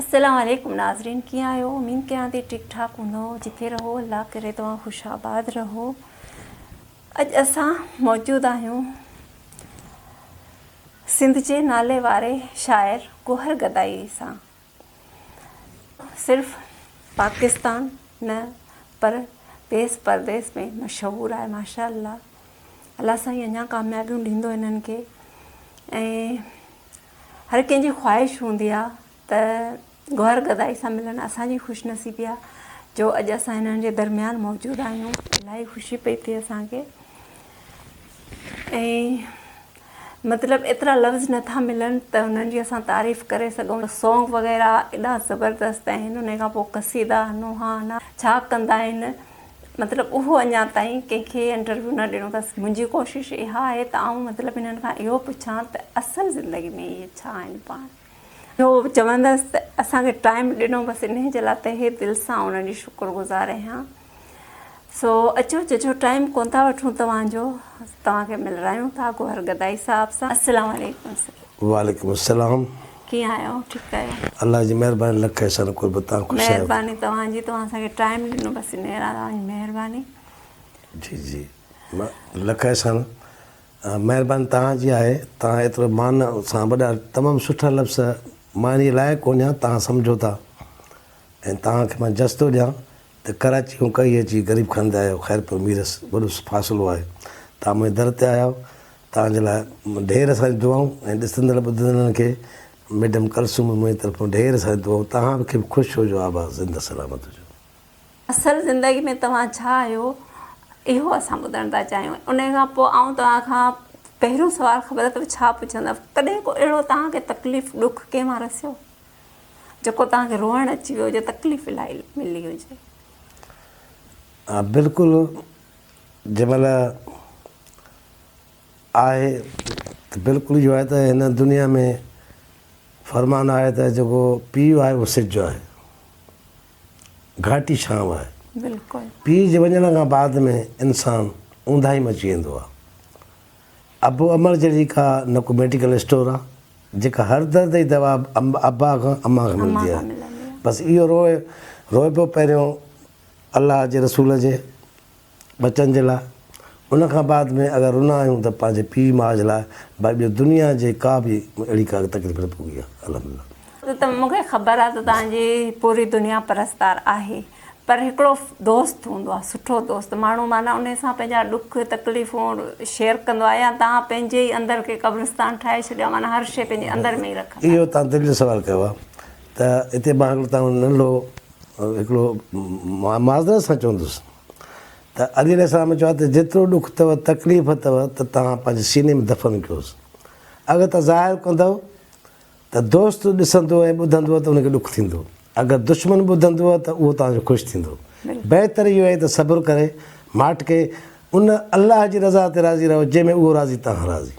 السلام عليڪم ناظرين ڪيئن آهيو اميد ڪيان ٿي ٺيڪ ٺاڪ هوندو جتي رهو الله ڪري توهان خوش آباد رهو اڄ اسان موجود آهيون سنڌ جي نالي واري شاعر گوهر گدائي سان صرف پاڪستان نه پر ديس پرديس ۾ مشهور آهي ماشاء الله الله سائين اڃا ڪاميابيون ڏيندو انهن کي ۽ هر ڪنهن جي خواهش هوندي آ ته گوهر گدائي سان ملن اسان جي خوش نصيبي آ جو اڄ اسان هنن جي درميان موجود آهيون الاهي خوشي پئي ٿئي اسان کي ۽ مطلب ايترا لفظ نٿا ملن ته انهن جي اسان تعريف ڪري سگهون سونگ وغيره ايڏا زبردست آهن انهي کان پوء قصيدا نوحا نا ڇا ڪندا آهن مطلب اهو اڃا تائين ڪنهن کي انٽرويو نه ڏنو اٿس منهنجي ڪوشش اها آهي ته آئون مطلب انهن کان اهو پڇان ته اصل زندگي ۾ اهي ڇا آهن پاڻ اهو چوندس ته اسان کي ٽائيم ڏنو بس انهي جي لاء تهه دل سان انهن جي شڪر گذار اهيان سو اچو جو جو ٽائيم ڪون ٿا وٺون توهان جو توهان کي ملرايون ٿا گوهر گدائي صاحب سان السلام عليڪم وعليڪم السلام ڪيئن آهيو ٺيڪ آهيو. الله جي مهرباني لک احسان قربت تان خوش آهيو. مهرباني توهان جي توهان اسان کي ٽائيم ڏنو بس ان لاء توهان جي مهرباني. جي جي لک احسان مهرباني توهان جي آهي توهان ايترو مان سان وڏا تمام سٺا لفظ مان انهي لائق ڪونهيان توهان سمجهو ٿا ۽ توهان کي مان جس ٿو ڏيان. ته ڪراچي کان ڪهي اچي غريب خان تي آيو، خيرپور ميرس وڏو فاصلو آهي، توهان منهنجي در تي آيا آهيو، توهان جي لاء ڍير اسان دعائون ۽ ڏسندڙ ٻڌندڙن کي ميڊم ڪلثوم ۽ منهنجي طرفان ڍير ساريون دعائون، توهان کي به خوش هجو آباد زنده سلامت هجو. اصل زندگي ۾ توهان ڇا آهيو اهو اسان ٻڌڻ ٿا چاهيون انهي کان پوء آئون توهان کان پهريون سوال خبر اٿو ڇا پڇندس ڪڏهن ڪو اهڙو توهان کي تڪليف ڏک ڪنهن مان رسيو؟ جيڪو توهان کي روئڻ اچي ويو هجي تڪليف الاهي ملي هجي. ها بلڪل جنهن مهل آهي ته بلڪل اهو آهي ته هن دنيا ۾ فرمان آهي ته جيڪو پيء آهي اهو سج جو آهي گهاٽي ڇانو آهي بلڪل پيء جي وڃڻ کان بعد ۾ انسان اونداهي ۾ اچي ويندو آهي ابو عمر جهڙي ڪا نه ڪو ميڊيڪل اسٽور آ جيڪا هر درد جي دوا ابا کان امان کان ملندي آ بس اهو روئي روئبو پهريون الله جي رسول جي ٻچن جي لاء ان کان بعد ۾ اگر رنا آهيون ته پنهنجي پيء ماء جي لاء ڀائي ٻيو دنيا جي ڪا به اهڙي ڪا تڪليف نه پوي آ الحمدلله. ته مونکي خبر آ ته توهان جي پوري دنيا پرستار آهي. پر هڪڙو دوست هوندو آهي سٺو دوست ماڻهو معنيٰ انهي سان پنهنجا ڏک تڪليفون شيئر ڪندو آهي يا توهان پنهنجي ئي اندر کي قبرستان ٺاهي ڇڏيو آهي معنيٰ هر شيء پنهنجي اندر ۾ ئي رکندا اهو توهان دل جو سوال ڪيو آهي ته اتي مان هڪڙو توهان کي ننڍو هڪڙو معذرت سان چوندس ته علي عليه السلام چيو آهي ته جيترو ڏک اٿو تڪليف اٿو ته توهان پنهنجي سيني ۾ دفن ڪيوس اگر توهان ظاهر ڪندؤ ته دوست ڏسندو ۽ ٻڌندو ته ان کي ڏک ٿيندو، اگر دشمن ٻڌندو ته اهو توهان جو خوش ٿيندو. بهتر اهو آهي ته صبر ڪري، ماٺڪي، ان، الله، جي رضا تي راضي رهو جنهن ۾ اهو راضي توهان راضي.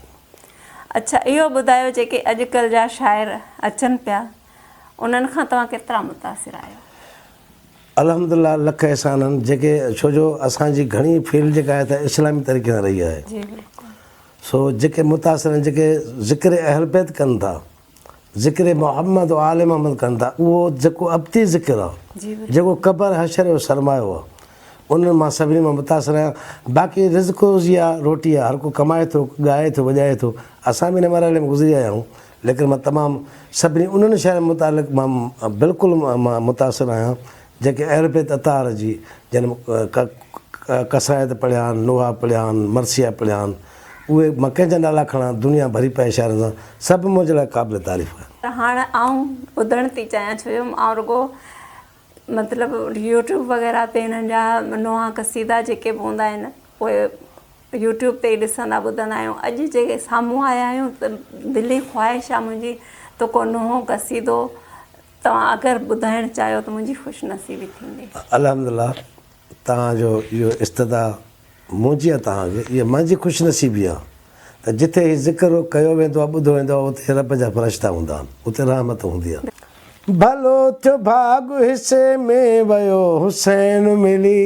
اڇا اهو ٻڌايو جيڪي اڄڪلھ جا شاعر اچن پيا انهن کان توهان ڪيترا متاثر آهيو؟ الحمد لله لک احسان آهن جيڪي ڇو جو اسان جي گهڻي فيلڊ جيڪا آهي ته اسلامي طريقي سان رهي آهي. جي بلڪل. سو جيڪي متاثرين جيڪي ذڪر اهلبيت ڪن ٿا ذڪر محمد و آل محمد ڪن ٿا اهو جيڪو ابتي ذڪر آ جيڪو قبر حشر جو سرمايو آ انهن مان سڀني مان متاثر آهيان باقي رزق روزي آ روٽي آ هر ڪو ڪمائي ٿو ڳائي ٿو وڄائي ٿو اسان به ان مرحلي مان گذري آيا آهيون ليڪن مان تمام سڀني انهن شاعرن متعلق مان بلڪل متاثر آهيان جنهن کي اهل بيت اطهار جي جن ڪا قصائد پڙهيا آهن، نوحا پڙهيا آهن، مرثيه پڙهيا آهن، اهي مڪين جا نالا کڻان، دنيا ڀري پئي شاعرن سان، سڀ منهنجي لاء قابل تعريف آهن. ته هاڻ آئون ٻڌڻ ٿي چاهيان ڇو جو آئون رڳو مطلب يوٽيوب وغيره تي هنن جا نوحا قصيدا جيڪي به هوندا آهن اهي يوٽيوب تي ئي ڏسندا ٻڌندا آهيون اڄ جي سامهون آيا آهيون ته دلي خواهش آهي منهنجي تو ڪو نوحو قصيدو توهان اگر ٻڌائڻ چاهيو ته منهنجي خوش نصيبي ٿيندي. الحمد الله توهان جو اهو استدعا منهنجي ۽ توهان جي اها مانجي خوش نصيبي آهي ته جتي هي ذڪر ڪيو ويندو آهي ٻڌو ويندو آهي اتي رب جا فرشتا هوندا آهن اتي رحمت هوندي آهي. ڀلو ٿيو ڀاڳ حصي ۾ ويو حسين ملي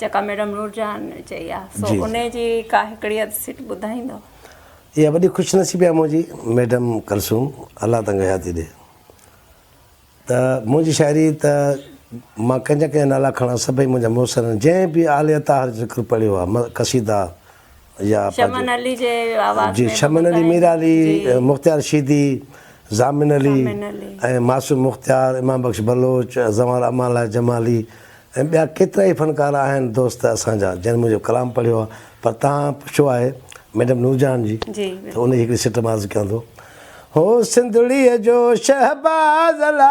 جيڪا ميڊم نورجهان چئي آ سو ان جي ڪا هڪڙي اڌ سٽ ٻڌائيندو. اها وڏي خوش نصيبي آ منهنجي ميڊم ڪلثوم الله تنگ حياتي ڏي ته منهنجي شاعري ته مان ڪنهن جا ڪنهن جا نالا کڻا سڀئي منهنجا محسن آهن جنهن به آلي اطاهر جو ذڪر پڙهيو آ قصيدا يا شمن علي جي آواز ۾ شمن علي مير علي مختيار شيدي ضامن علي ۽ معصوم مختيار امام بخش بلوچ زوال امان لاء جمالي ۽ ٻيا ڪيترا ئي فنڪار آهن دوست اسان جا جن منهنجو ڪلام پڙهيو آهي پر تهان پڇو آهي ميڊم نور جهان جي ته ان جي هڪڙي سٽ مان عرض ڪيان ٿو هو سنڌڙيء جو شهباز الا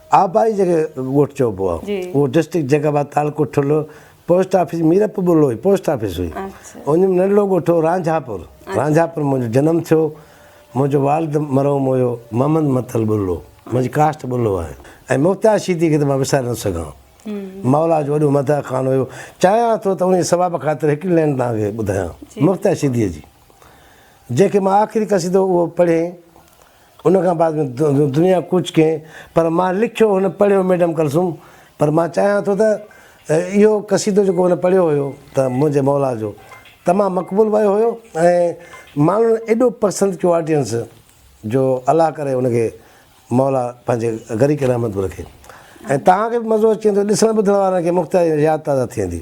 آبائي جنهن کي ڳوٺ چئبو آ اهو ڊسٽرڪٽ جيڪب آباد تعلقو ٺلهو پوسٽ آفيس ميرپور ٻه لوهي پوسٽ آفيس هئي ان ۾ ننڍڙو ڳوٺ هو رانجهاپور رانجهاپور منهنجو جنم ٿيو منهنجو والد مرحوم هيو محمد متل ٻلو منهنجي ڪاسٽ ٻلو آهي ۽ مختيار شيدي کي ته مان وساري نٿو سگهان مولا جو وڏو مدح خان هيو چاهيان ٿو ته انهي ثواب خاطر هڪڙي لين توهان کي ٻڌايان مختيار شيدي جي جنهن کي مان آخري قصيدو اهو پڙهي ان کان بعد ۾ دنيا ڪوچ ڪين پر مان لکيو هن پڙهيو ميڊم ڪلثوم پر مان چاهيان ٿو ته اهو قصيدو جيڪو هن پڙهيو هيو ته منهنجي مولا جو تمام مقبول ويو هيو ۽ ماڻهن ايڏو پسند ڪيو آڊينس جو الله ڪري ان کي مولا پنهنجي غريق رحمت به رکي ۽ توهان کي به مزو اچي ويندو ڏسڻ ٻڌڻ وارن کي مختياري ياد تازا ٿي ويندي.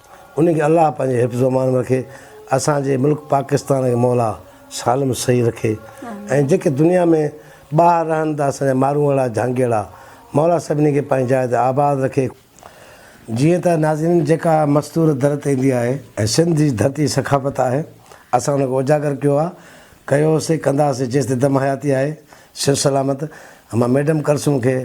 انهن کي الله پنهنجي حفظ و امان ۾ رکي اسان جي ملڪ پاڪستان کي مولا سالم صحيح رکي ۽ جيڪي دنيا ۾ ٻاهر رهن ٿا اسان جا ماروئڙا جهانگيئڙا مولا سڀني کي پنهنجي جاء تي آباد رکي. جيئن ته ناظرين جيڪا مستور در تي ايندي آهي ۽ سنڌ جي ڌرتي ثقافت آهي اسان ان کي اجاگر ڪيو آهي ڪيو سي ڪنداسي جيستائين دم حياتي آهي صحت سلامت مان ميڊم ڪلثوم کي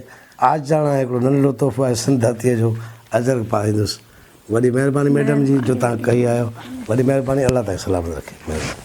عاجزاڻا هڪڙو ننڍڙو تحفو آهي سنڌ ڌرتي جو اجرڪ پاريندس. وڏي مهرباني ميڊم جي جو تهان ڪهي آيو وڏي مهرباني الله تهان کي سلامت رکي مهرباني.